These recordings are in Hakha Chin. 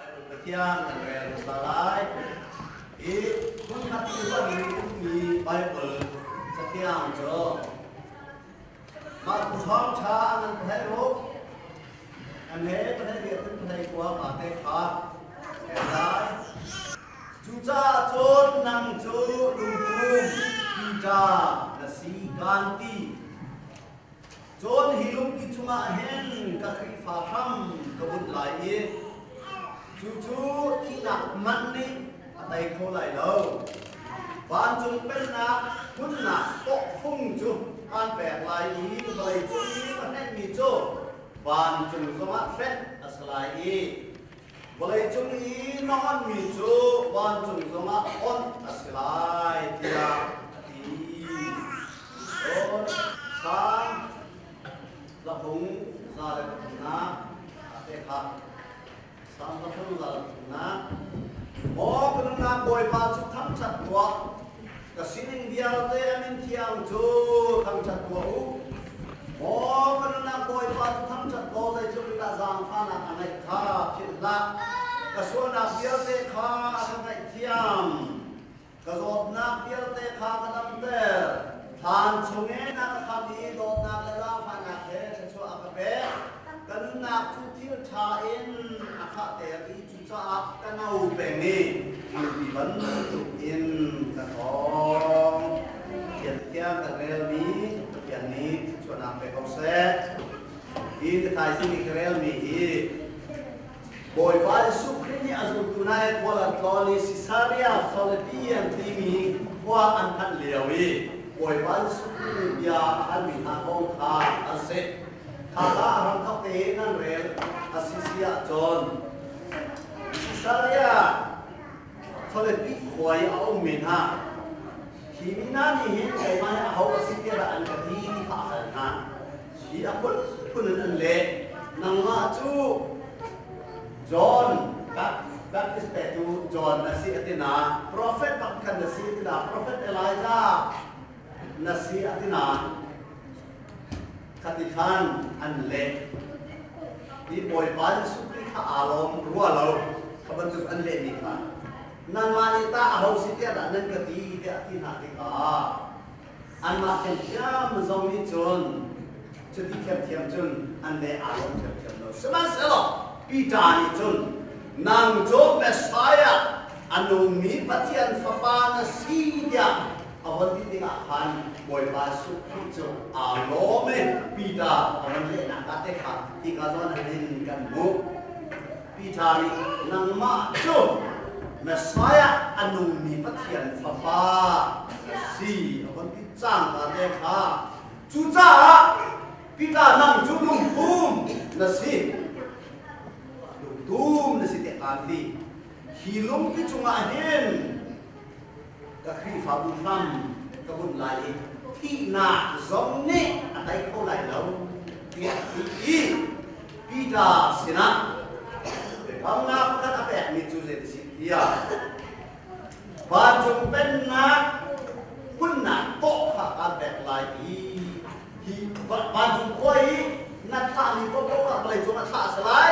Baibal Pathian kan rel hmasa lai. Hi hmunkhat i hmanmi ummi Baibal cathiang cu mah bu ṭhawngṭha nan theih u. An he pahnih le an pahnih kua kaa te kha ke lai. Cucahcun nang cu lungpum piṭa na si kaan ti. Cun hi lungpi chungah hin ka Khrihfa hram ka bunh lai i cucu thihnak man nih a tei kho lai lo. Vancung pennak hmunnak pokphung cu aan pek lai i vawleicung i ka hrengmi cu vancung zongah hrenh a si lai i Vawleicung i na onmi cu vancung zongah awnh a si lai tiah a ti. Cun thlan, tlahung za le pathumnak a pek hlah. Salm pathum za le pathumnak, Maw ka nunnak Bawipa cu thangṭhat tuah, Ka sining vialte a min thiang cu thangṭhat tuah u. Maw ka nunnak Bawipa cu thangṭhat law zei tlukritah zaangfahnak a ngeih kha philh hlah. Ka sualnak vialte kha a ka ngaihthiam, ka zawtnak vialte kha ka damter. Thlan chungin a ka khamh i dawtnak le zaangfahnak he thluachuah a ka pek. Ka nunnak cu thil ṭha in a khahter i Cucaah ka no peng i mangki bantuk in ka thawng. Thian thiang ka relmi Pathian nih thluachuahnak pe ko seh. Hi ka thaizing i ka relmi hi Bawipa Jesuh Khrih nih a zultu hna i khual an tlawn i Sisaria Philipian timi khua an thanh lio i Bawipa Jesuh Khrih nih bia a halmi hna kong kha an si. Thazah ram thawkte in an rel a si si ah cun Australia chawletpi khuai a um men hna. Hi mi hna nih hin keimah hi aho a si tiah an ka ti ti kha a hal hna. Hi a phunphun in an leh. Nangmah cu John Baptist petu John na si a ti na profet pakhat na si a ti na profet Elijah na si a ti na Khatikhan an leh. I Bawipa Jesuh Khrih kha aa lawm rua lo ka bantuk an lehmi kha nangmah nih tah aho si tiah dah nan ka ti tiah a ti hna tikah anmah thiamthiam zong nih cun cuti thiamthiam cun an le aa lawm thiamthiam lo sihmanhsehlaw Peter nih cun nang cu Messiah a nungmi Pathian fapa na si tiah a von ti tikah khan Bawipa Jesuh Khrih cu aa lawm e, Peter a von lehnak ah te kha hika zawn hin kan hmuh. Peter nih, Nangmah cu Messiah, a nungmi Pathian Fapa na si, a von ti cangka te kha. Cucaah Peter nang cu lungtum na si, lungtum na si tiah kaan ti. Hi lungpi cungah hin ka Khrihfabu hram ka bunh lai i thihnak zong nih a tei kho lai lo tiah a ti i Peter sinah biakamnak pakhat a pekmi cu zei a si tiah vancung pennak hmunnak paw kha kaan pek lai i hi vancung khua i na thahmi paohpaoh kha vawleicung ah thlah a si lai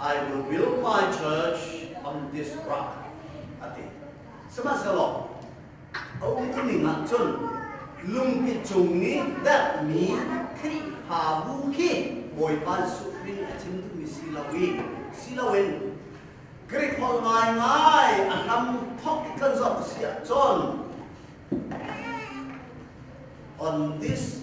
I reveal my church on this rock. Ati. Sihmanhsehlaw, a umtuning ah cun lungpi cung nih datmi Khrihfabu khi Bawipa Jesuh Khrih nih a chim duhmi si lo i, si loin Greek holh ngaingai a hlam thok i kan zoh si ahcun on this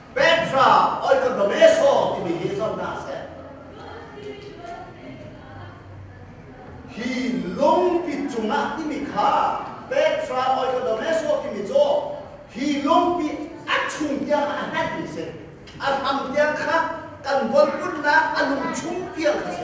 Petra Oikodomeso timi hi zonah a si. Hi lungpi cungah timi kha Petra Oikodomeso timi cu hi lungpi a chung tiang a hmanmi si. A hram tiang kha kan von putnak a lung chung tiang kha si.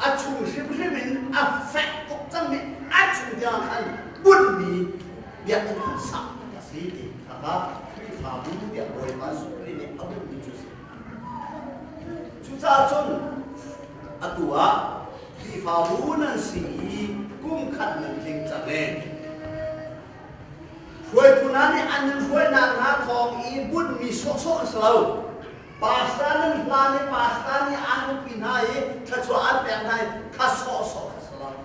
a chung hrimhrim in a fek tuk cangmi a chung tiang khan bunmi biakinn an sak a si ti kha kha Khrihfabu tiah Bawipa Surri nih a bunmi cu a si. Cucaah cun atu ah Khrihfabu nan si i kum khat nan tling cang e. Hruaitu hna nih an in hruai nakhnga thawng i bunmi sawhsawh an si lo. Pastor nan hla nih pastor nih an huppi hna i thluachuah an pek hna i kha sawhsawh an si lai.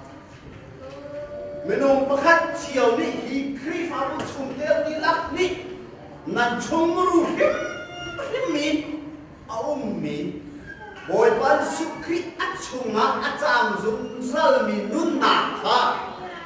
Minung pakhat cio nih hi Khrihfabu chungte dihlak nih nan chungmuru hrimhrim mi a ummi Bawipa Jesuh Khrih a chungah a caang zungzalmi nunnak kha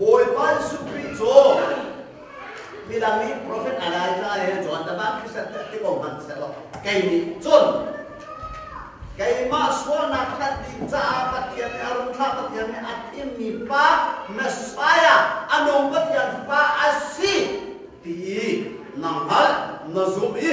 Bawipa Jesuh Khrih cu midang nih profet Elijah he John Daban Krishan ti ko hmanh sehlaw kei nih cun keimah sualnak hlat ding caah Pathian nih a rung thlah Pathian nih a thimmi pa Messiah a nung Pathian fa a si ti na hngalh na zumh i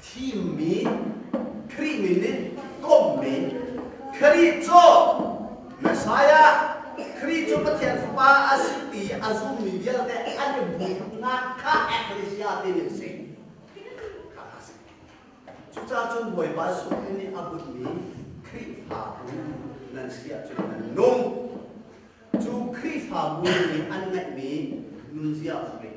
thimmi Khrih min in kommi Khrih cu Messiah Khrih cu Pathian fapa a si ti a zummi vialte an i hmuhnak kha ecclesia timi a si. Kha a si. Cucacun Bawipa sungin nih a bunmi Khrihfa bu nan si ahcun nan nung. Cu Khrihfabu nih an ngeihmi nunzia hmangin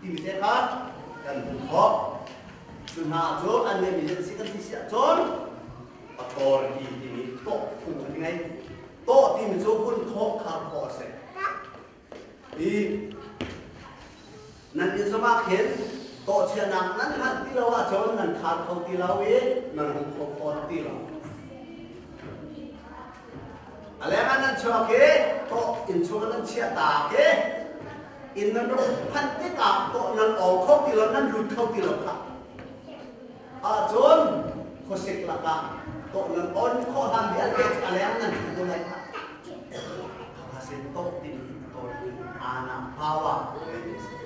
timi te kha kan hmuh khawh. Cu hna cun an ngeihmi an si kan ti si ahcun authority timi tawh phung an ngei. Tawh timi cu kun khawh khar khawh a si. I nan inzam ah khin tawhchiahnak nan hal ti lo ahcun nan khar kho ti lo i nan um kho fawn ti lo. A leng an an chuak i tawk inn chungin an chiah tak i inn nan rak phanh tikah tawh nan aw kho ti lo nan lut kho ti lo kha ahcun khuasik lakah tawh nan on khawh hlan vialte cu a leng nan ṭhu ding ai a sin tawk ding in kawl aa na pawa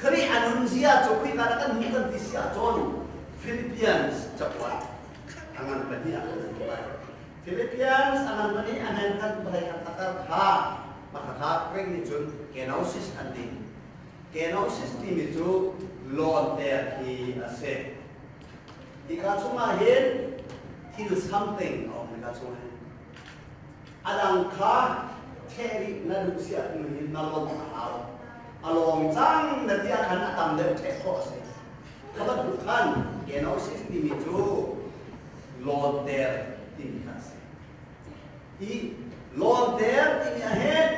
Khrih a nunzia cu khika na kan hmuh kan ti si ahcun Philippians cakuat a ngan pahnih ah kan hmuh lai. Philippians a ngan pahnih a ngan kan vawlei khat a kar kha mahkhakha Greek nih cun kenosis an ti. Kenosis timi cu lawnter hi a si. Hika chungah hin thil something a um hika chung hin. a dang kha theh rih na duh siah tiin in na lawnh a hau. A lawng cang na ti ah khan a tam deuh ṭheh khawh a si. Kha bantuk khan kenosis timi cu lawter timi kha a si. Hi lawter timi ahhin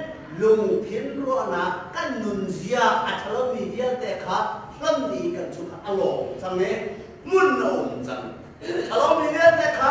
lungthin ruahnak kan nunzia a ṭhalomi vialte kha hlonh i kan cung ah a lawng cang i hmun a um cang. Ṭhalomi vialte kha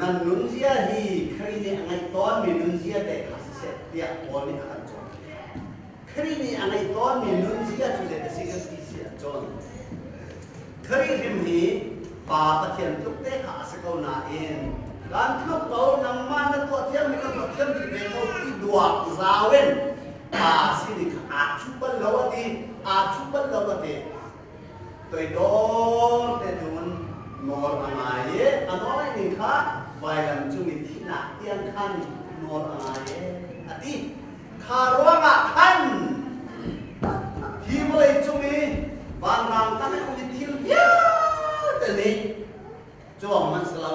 Nan nunzia hi Khrih nih a ngeih tawnmi nunzia te kha siseh tiah Paul nih a kan cawn. Khrih nih a ngeih tawnmi nunzia cu zeitik a si kan ti si ahcun Khrih hrim hi Pa Pathian tluk te kha a si ko nain kan tluk ko nangmah na tuah thiammi kan tuah thiam ti ve ko i duak zau in Pa sin i kha aa thup bal lo a ti aa thup bal lo a ti toidor te cun nawl a ngai i a nawl ning kha vailam cung i thihnak tiang khan nawl a ngai a ti kha ruangah khan hi vawlei cung i vanrang tangah mi thil vialte nih cuang an si lo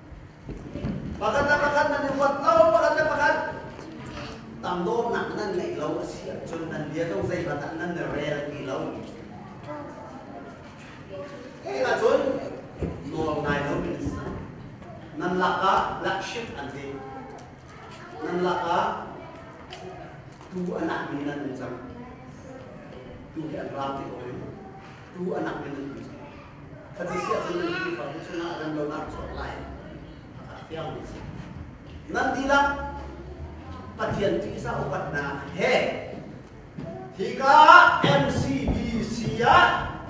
Pakhat le pakhat nan i huat lo, pakhat le pakhat tangdornak nan ngeih lo a si ahcun nan bia lo zeibat ah nan rel ti lo. Hi ahcun nawl ngai lo mi an si cang. Nan lakah lakship an ti. Nan lakah tuu a nak mi nan um cang. Tuu he an raam ti ko in. Tuu a lang in an um cang. Khat a si ahcun Khrihfabu chungah randonnak chuak lai a fiangmi a si. Nan dihlak Pathian ṭihzah upatnak he hika MCBC ah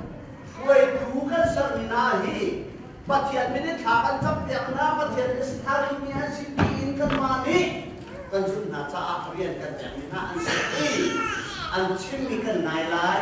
hruaitu kan sermi hna hi Pathian min in thla kan campiak hna, Pathian in sakmi an si tiin kanmah nih kan zulh hna caah rian kan pekmi hna an si i an chimmi kan ngai lai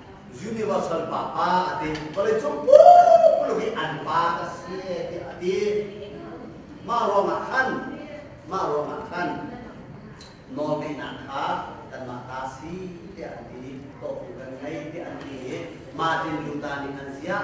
universal pa pa a ti vawleicung pumlung i an pa a si tiah a ti mah ruangah khan mah ruangah khan nawl ngeihnak kha kanmah ta si tiah an ti nih tawhtu kan ngei tiah an ti i Martin Luther nih an ziah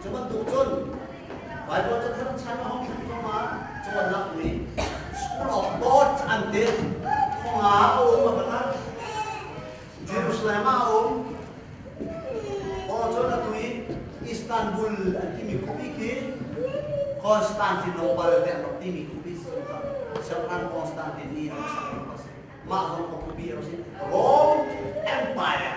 Cu bantuk cun Baibal cathar chan a hong thlen thluahmah cawnnak nih School of Thought an ti. Thongah a um a banah Jerusalem ah a um. Paul cun atu i Istanbul an timi khupi khi Constantinople tiah an rak timi khupi si St. Anne Constantine i an sak a rak si. Mah zong khupi a rak si. Rome Empire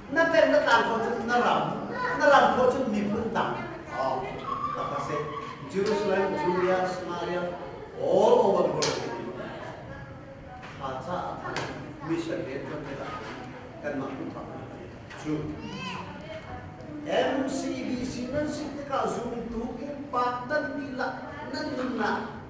na pen na tlan khawh cun na ram na ram khawh cun miphun dang oh, tak a si Jerusalem Julia Samaria all over the world thaca mission he kan te kan mah ku pa chu MCBC nan si tikah zumtu in pa tan ni la nan nun la